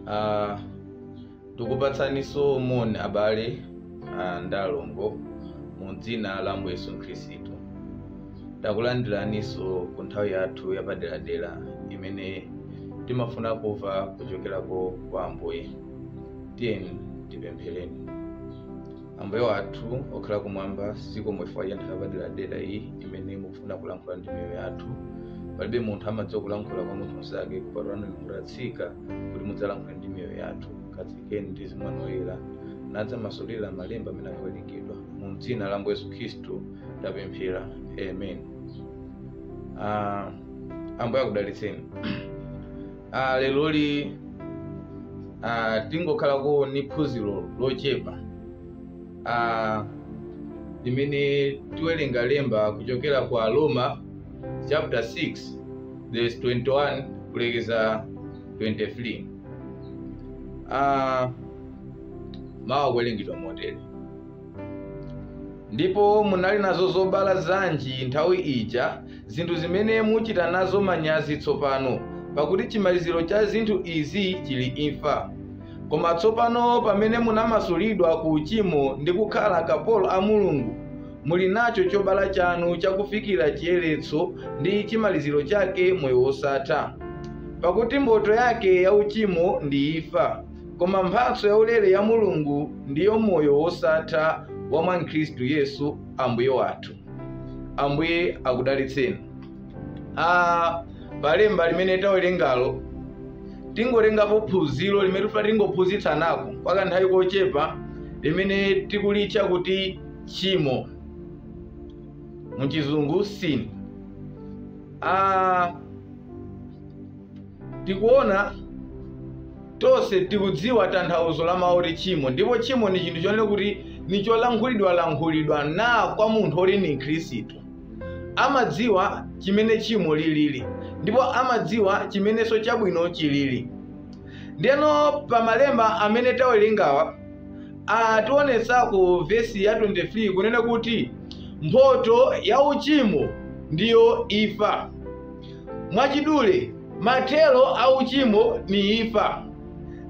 Ah, tikupatsaninso moni abale ah, ndi alongo mu dzina la Ambuye Yesu Khristu takulandiraninso ku nthawi yathu yapaderadera imene timafuna kumva kuchokerako kwa Ambuye tiyeni tipemphereni ambuye wathu okhala kumwamba zikomo chifukwa cha nthawi yapaderadera iyi imene mukufuna kulankhula ndi miyoyo yathu palibe munthu amadziwa kulankhula kwa munthu mnzake kupatula inu mutatsika kuti mudzalankhule ndi miyoyo yathu katsikeni ndi mzimu wanu woyera nadzamasulira malemba amene akuwerengedwa mu dzina la ambuye yesu khristu tapemphera amen Ah, ambuye akudalitseni Ah, leroli ah, tingokhalako ni phunziro lochepa ah, limene tiwerenga lemba kuchokera kwa Aroma chapter 6 verse 21 kulekeza 23 ah, mawu akuwerengedwa motere ndipo munali nazo zobala zanji nthawi ija zinthu zimene muchita nazo manyazi tsopano, pakuti chimaliziro cha zinthu izi chili imfa. Koma tsopano pamene munamasulidwa ku uchimo ndi kukhala akapolo a Mulungu, muli nacho chobala chanu chakufikira chiyeretso ndi chimaliziro chake moyo wosatha. Pakuti mphotho yake ya uchimo ndi imfa, koma mphatso yaulere ya Mulungu ndiyo moyo wosatha wa mwa Khristu Yesu Ambuye wathu. ambuye akudalitseni ah, palemba limene tawerengalo tingolengapo phunziro limene tifuna tingophunzitsanako kwa kanthawi kochepa limene tikulitcha kuti tchimo muchizungu sin ah, Tikuona, tonse tikudziwa tanthauzo la mawu oti tchimo, ndipo tchimo ni chinthu chonena kuti ni cholankhulidwa-lankhulidwa na kwa munthu woti ni Mkhristu. Amadziwa chimene tchimo lilili, ndipo amadziwa chimenenso chabwino chilili. Ndiyeno pa malemba amene tawerengawa, ationetsa ku vesi ya 23 kunena kuti mphotho ya uchimo ndiyo imfa. mwachidule mathero a uchimo ni imfa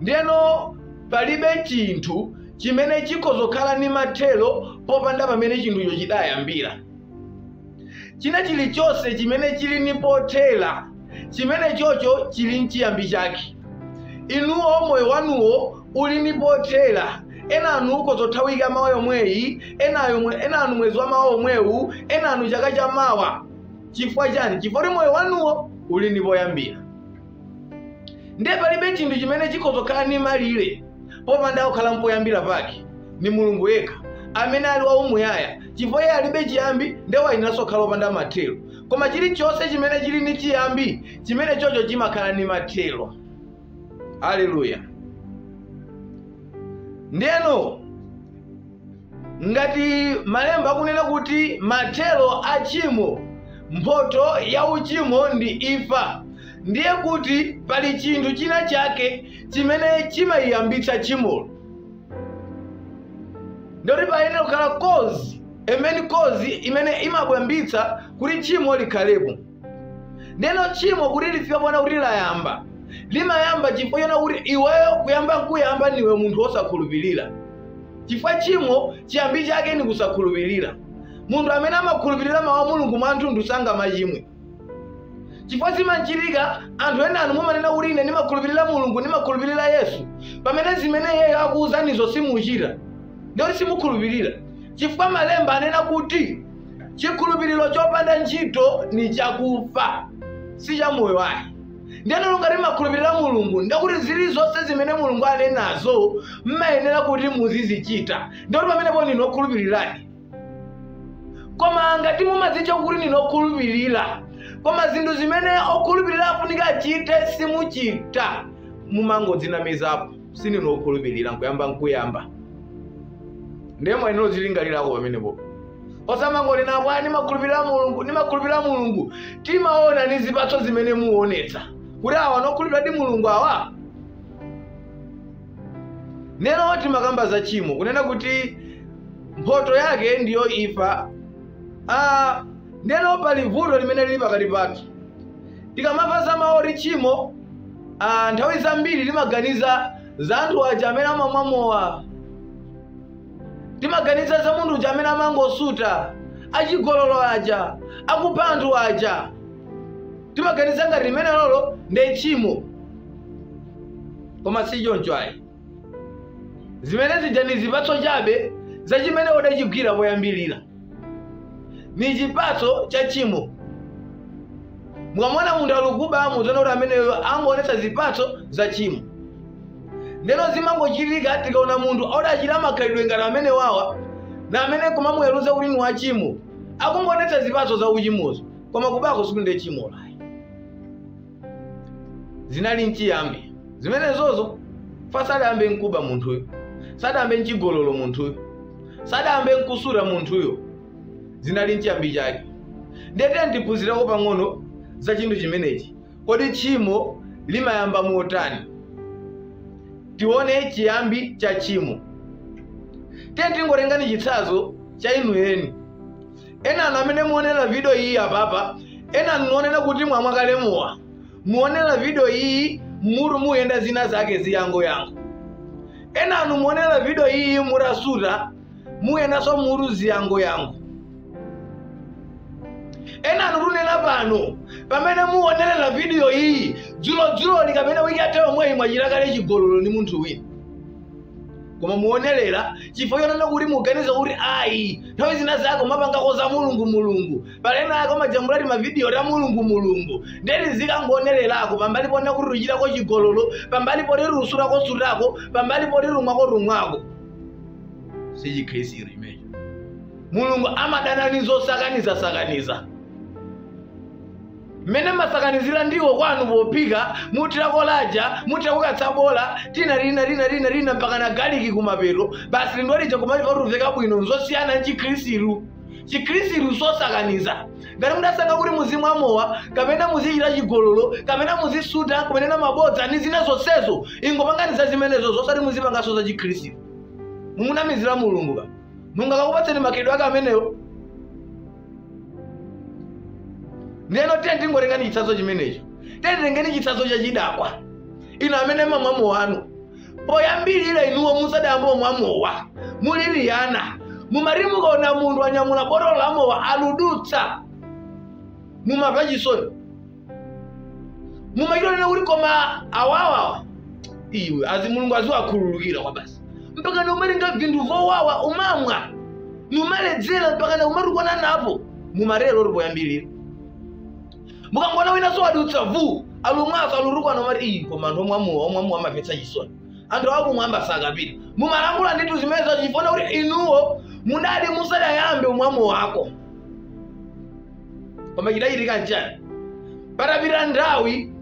ndiyeno palibe chinthu chimene chikozokhala ni mathero popanda pamene chinthucho chidayambira china chilichonse chimene chili ni pothera chimene chocho chili nchiyambi chake inuwo moyo wanuwo uli ni pothera enanu ukozothawika mawa yomweyi enayo mwe- enanu mwezi wa mawa omwewu enanu chaka cha mawa chifukwa chani chifukwa moyo wanuwo uli ni poyambira ndiye palibe chinthu chimene chikozokhala ni malire popanda kukhala mpoyambira pake ni mulungu yekha amene ali waumuyaya chifukwa iye alibe chiyambi ndiye wayeneranso kukhala opanda mathero koma chilichonse chimene chili ni chiyambi chimene chocho chimakhala ni mathero haleluya ndiyeno Ngati malemba akunena kuti mathero a tchimo, mphotho ya uchimo ndi imfa, ndiye kuti pali chinthu china chake chimene chimayiyambitsa tchimolo. Ndikuti payenera kukhala cause, a main cause, imene imapangitsa kuti tchimo likhalepo. ndeno tchimo kuti lifike ponena kuti layamba limayamba chifukwa chonena kuti iweyo kuyamba nkuyamba niwe munthu wosakhulupirira chifukwa tchimo chiyambi chake ni kusakhulupirira munthu amene amakhulupirira mawu a mulungu mwathunthu sangamachimwe chifukwa zimachitika anthu enanu mumanena kuti ine ndimakhulupirira mulungu ndimakhulupirira yesu pamene zimene iyeyo wakuwuzanizo simuchita ndikuti simukhulupirira chifukwa malemba anena kuti chikhulupiriro chopanda ntchito ni chakufa si cha moyo ayi ndiyeno ngati mmakhulupirira mulungu ndikuti zili zonse zimene mulungu anenazo mmayenera kuti muzizichita ndikuti pamenepo ndinu okhulupiriradi koma ngati mumadzitcha kuti ndinu okhulupirira koma zinthu zimene okhulupirira afunika achite simuchita mumangodzinamizapo sininu okhulupirira nkuyamba nkuyamba ndiye mwayenera kuzilingalirako pamenepo osamangonena kwa ndimakhulupirira mulungu ndimakhulupirira mulungu timaona ni zipatso zimene muonetsa kuti awa nokhulupiriradi mulungu awa neno timakamba za tchimo kunena kuti mphotho yake ndiyo imfa ah, neno pali vuto limene lili pakati pathu Tikamamva za mawu oti tchimo, ah, nthawi zambiri timaganiza za anthu aja amene amwamwa mowa, timaganiza za munthu uja amene amangosuta, achigololo aja, akupha anthu aja, timaganiza ngati limene lolo ndi tchimo, koma si choncho ayi. Zimene zija ndi zipatso chabe za chimene udachigwira poyambirira. ni chipatso cha chimo mukamona munthu alikuba muziona kuti ameneyo angoonetsa zipatso za chimo ndeno zimangochitika tikaona munthu odachita makhalidwe ngati amene wawa na amene kumamuweruza kuti ni wachimo akungoonetsa zipatso za uchimozo koma kubako sikuti nde chimo layi zinali nchiyambi zimenezozo fa sadayambe nkuba munthuyo sadayambe nchigololo munthuyo sadayambe nkusuta munthuyo zinali nchiyambi chake ndiye tiyeni tiphunzireko pang'ono za chinthu chimenechi kodi tchimo limayamba motani tione chiyambi cha tchimo tiyeni tingotengani chitsanzo cha inu eni enanu amene muonera video iyi apapa enanu muonera kuti mwamwa kale mowa muonera video iyi mutu muyenda zina zake ziyango yango enanu muonera video iyi mutasuta muyendaso mutu ziyango yango enanu kunena pano pamene muonerera video iyi dzulodzuloli kapena wiki yatha yomweyi mwachita kale chigololo ndi munthu wina koma muonerera chifukwa chonena kuti muganiza kuti ayi nthawi zina zake mumapangako za mulungu mulungu pali ena ake amajambula timavidiyo ta mulungu mulungu ndeti ndikangoonererako pambali ponena kuti ruchitako chigololo pambali poti rusutako sutako pambali poti rumwako rumwako si chikhristu chimecho mulungu amadana ni zosakaniza sakaniza mmene mumasakanizira ndiwo kwanu pophika muthirako laja muthirako katsabola tina tina tina tina tina mpaka na galiki kumapeto basi lindiwo lija kumaliva kuti uveka bwino nzosiyana ndi chikhristu chikhristu sosakaniza ngati mudasankha kuti muzimwa mowa kapena muzichita chigololo kapena muzisuta kumanena mabodza ndi zina zonsezo ingopanganizani zimenezo zosati muzipanganso za chikhristu mumunamizira mulungu ka mulungu akakupatseni makhalidwe ake amenewo ndiyeno tiye tingotengani chitsanzo chimenecho tiye titengeni chitsanzo cha chidakwa inu amene mumamwa mowanu poyambirira inuwo musadayambe kumwa mowa muli liyana mumati mukaona munthu anyamula botolo la mowa aludutsa mumamva chisoni mumachita onena kuti koma awawawa iwe azi mulungu aziwakhululukira kwabasi mpaka na umalinga anthu owawa kumamwa nkumaledzera mpaka na kumatukwana napo mumatero muli poyambirira mukangoona winaso wadutsa vu alumwaso alutukwana mumati iyi koma anthu omwa mowa omwa mowa amamvetsa chisoni anthu awa kumwamba sakapita mumalankhula ndithu zimene chifukwa chonena kuti inuwo mudali musadayambe kumwa mowako koma chidachitika nchani patapita nthawi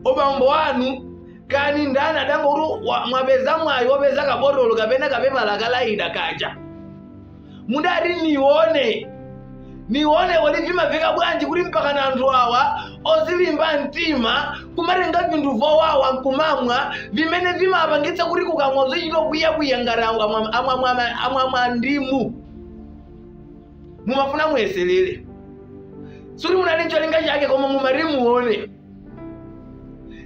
obambo anu kani ndani mudangoti mwapeza mwayi wopeza kabotolo kapena kapepala kalaida kaja mudati nione nione kuti vimaveka bwanji kuti mpaka na anthu awa ozilimba mtima kumatenga vinthu vowawa nkumamwa vimene vimapangitsa kuti kukamwa zochita kwiya kwiya ngati amwa- amwa ndimu mumafuna muyeserere sikuti munali ncholinga chake koma mumati muone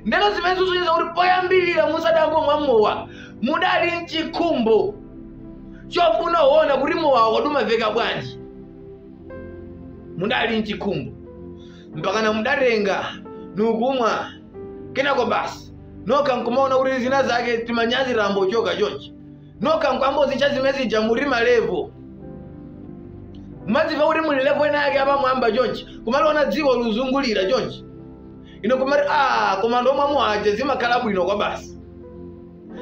ndiyeno zimene zikusonyeza kuti poyambirira musadayambe kumwa mowa mudali nchikhumbo chofuna kuona kuti mowa kodi umaveka bwanji mudali nchikhumbo mpakana mudatenga nukumwa kenako basi nokha nkumaona kuti zina zake timanyazi tayambo choka chonchi nokha nkuyambo zitcha zimene zija muti malevo mumadzimva kuti muli levo ina yake apamwamba chonchi kumaliona dziko likuzungulira chonchi inu nkumati a koma ndikamwa mowa uja zimakhala bwino kwabasi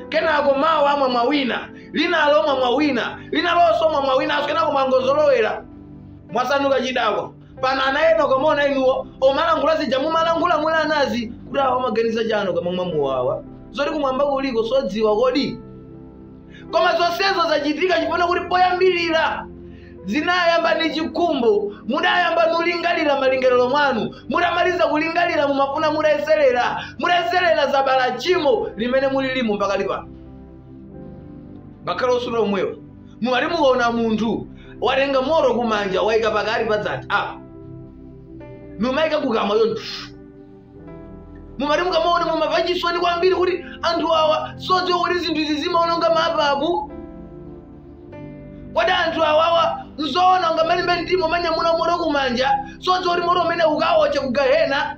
kenako mawa mwamwa wina linalo mwamwa wina linalonso mwamwa winanso kenako mwangozolowera mwasanduka chidakwa pano ana ena akamaona inuyo omalankhula zija mumalankhula muli ana zi kuti awa amaganiza chani akamamwa mowawu zoti kumwamba kuliko sodziwa kodi koma zonsezo zachitika chifukwa choti poyambirira zinayamba ndi chikhumbo mudayamba nulingalira malingaliro mwanu mudamaliza kulingalira mumafuna mudayeserera mudayeserera zabala chimo limene mulilimo mpaka lipano ngakhale osuta omwewo mumati mukaona munthu watenga moto kumanja waika pakati pa dzanja apa numaika kukamwa chonchi mumati mukamaona mumava chisoni kwambiri kuti anthu awa sodziwa kuti zinthu izi zimaononga mapapu kodi anthu awawa nzoona ungamalimbe mtima kumanyamula moto kumanja sodziwa kuti moto umene ukawotcha kugahena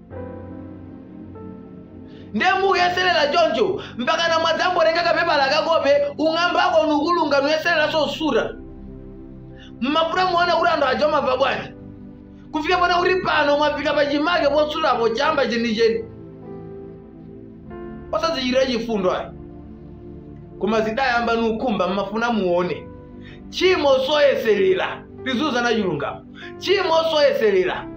ndiye mukuyeserera choncho mpaka namwadzangotenga kapepala ka kope kung'ambako nukulunga nuyesereranso kusuta mmafuna muone kuti anthu aja amamva bwanji kufika pano kuti pano mwafika pachimake posutapo chamba chenicheni osazichitira chifundo ayi koma zidayamba nukhumba mmafuna muone tchimo soyeserera tiziuzana chilungamo chimo soyeserera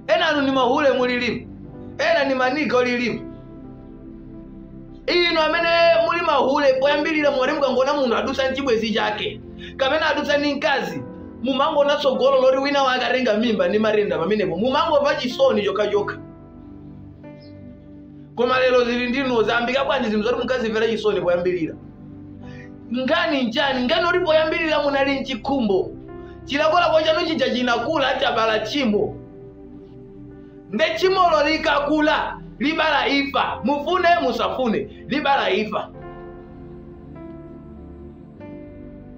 ena inu ni mahule mulilimu ena ni maniga olilimu inu amene muli mahule poyambirira mwati mukangona munthu adutsa nchibwezi chake kapena adutsa ndi mkazi mumangona tsogolo loti wina wake atenga mimba ndi matenda pamenepo mumangomva chisoni chokhachokha koma lero zili ndi inu zambika bwanji zinthu zoti mukazimvera chisoni poyambirira nkhani nchani nkhani yoti poyambirira munali nchikhumbo chilakolako chanu chija chinakula chabala tchimo nde tchimolo likakula libala ifa mufune musafune libala ifa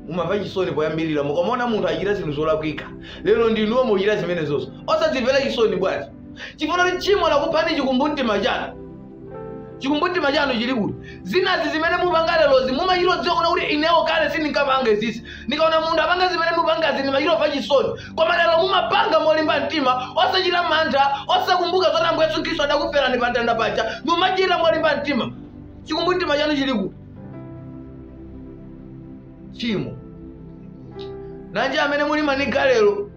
mumamva chisoni poyambirira mukamuona munthu achita zinthu zolakwika lero ndinuwo muchita zimenezozo osazimvera chisoni bwanji chifukwa kuti tchimo lakuphani chikumbumtima chanu chikumbumtima chanu chili kuti zinazi zimene mupanga lerozi mumachita kudziwa kuna kuti inewo kale sindinkapange izizi ndikaona munthu apanga zimene mupangazi ndimachita kumva chisoni koma lero mumapanga molimba mtima osachita mantha osakumbuka zoti ambuye yesu khristu adakuferani pa mtanda paja mumachita molimba mtima chikumbumtima chanu chili kuti tchimo nanji amene muli maniga lero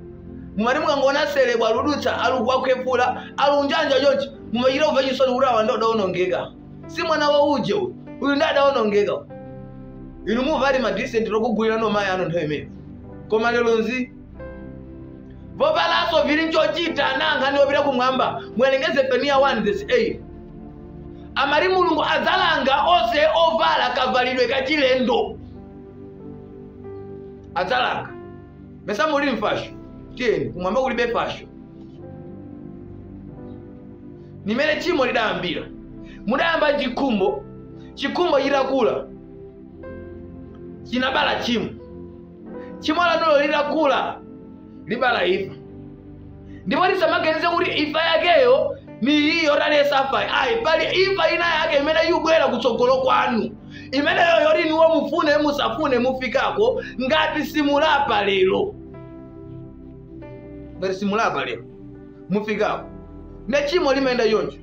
mumati mukangoona selebwa aludutsa alukwakhwefula alunjanja chonchi mumachita kumva chisoni kuti awa nde adaonongeka si mwana wa uje uyu nde adaonongeka inu muvati madisenti lokugulirani mayi anu nthawi imene koma lero nzi vovalaso vili nchochita na nkhani yopita kumwamba muwerenge zefaniya 1 vesi 8 amati mulungu adzalanga onse ovala kavalidwe kachilendo adzalanga mesa muli mfasho tiyeni kumwamba kulibe fasho nimene tchimo lidayambira mudayamba chikhumbo chikhumbo chitakula chinabala tchimo tchimo lanulo litakula libala imfa ndipo tisamaganize kuti imfa yakeyo ni iyi yoti aliyense afayi ayi pali imfa ina yake imene yubwera kutsogolo kwanu imeneyo yoti inuwo mufune musafune mufikako ngati simulapa lero ngati simulapa lero mufikako nde tchimo limayenda choncho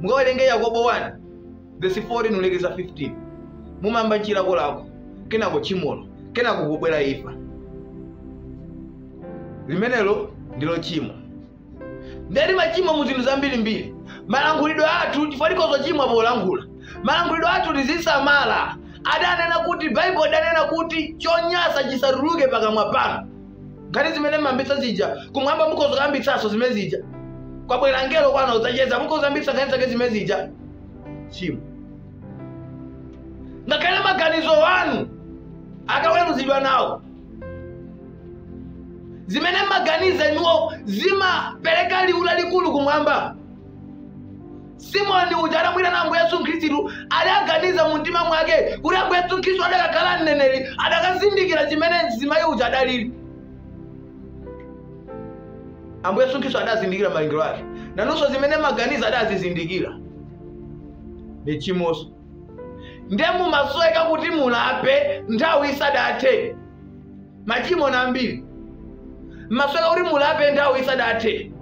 mukawerenge yakobo 1 vesi 14 kulekeza 15 mumamba nchilakolako kenako tchimolo kenako kubwera imfa limenelo ndilo tchimo nde timachimwa mu zinthu zambirimbiri malankhulidwe athu chifukwa tikhoza kuchimwa polankhula malankhulidwe athu tizisamala adanena kuti baibulo adanena kuti chonyasa chisatuluke pakamwa panu nkhani zimene mmambitsa zija kumwamba mukhoza kuyambitsanso zimene zija kwabwera mngelo kwanu kudzacheza mukhoza kuyambitsa nkhani zake zimene zija tchimo ngakhale maganizo anu akaweruzidwa nawo zimene mmaganiza inuwo zimapereka liwu lalikulu kumwamba simoni uja adamuwirana ambuye yesu khristu adaganiza mu mtima mwake kuti ambuye yesu khristu adakakhala mneneri adakazindikira chimene mzimayi uja adalili ambuye yesu khristu adazindikira malingaliro ake naenso zimene amaganiza adazizindikira ndi chimozi nde mumasoweka kuti mulape nthawi isadathe machimo na ambiri mmasoweka kuti mulape nthawi isadathe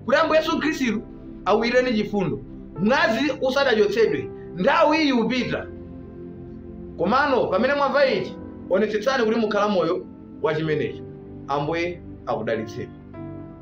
kuti ambuye yesu khristu awirireni chifundo mwazi usadachotsedwe nthawi iyi upita komano pamene mwamva ichi onetsetsani kuti mukhala moyo wa chimenecho ambuye akudalitseni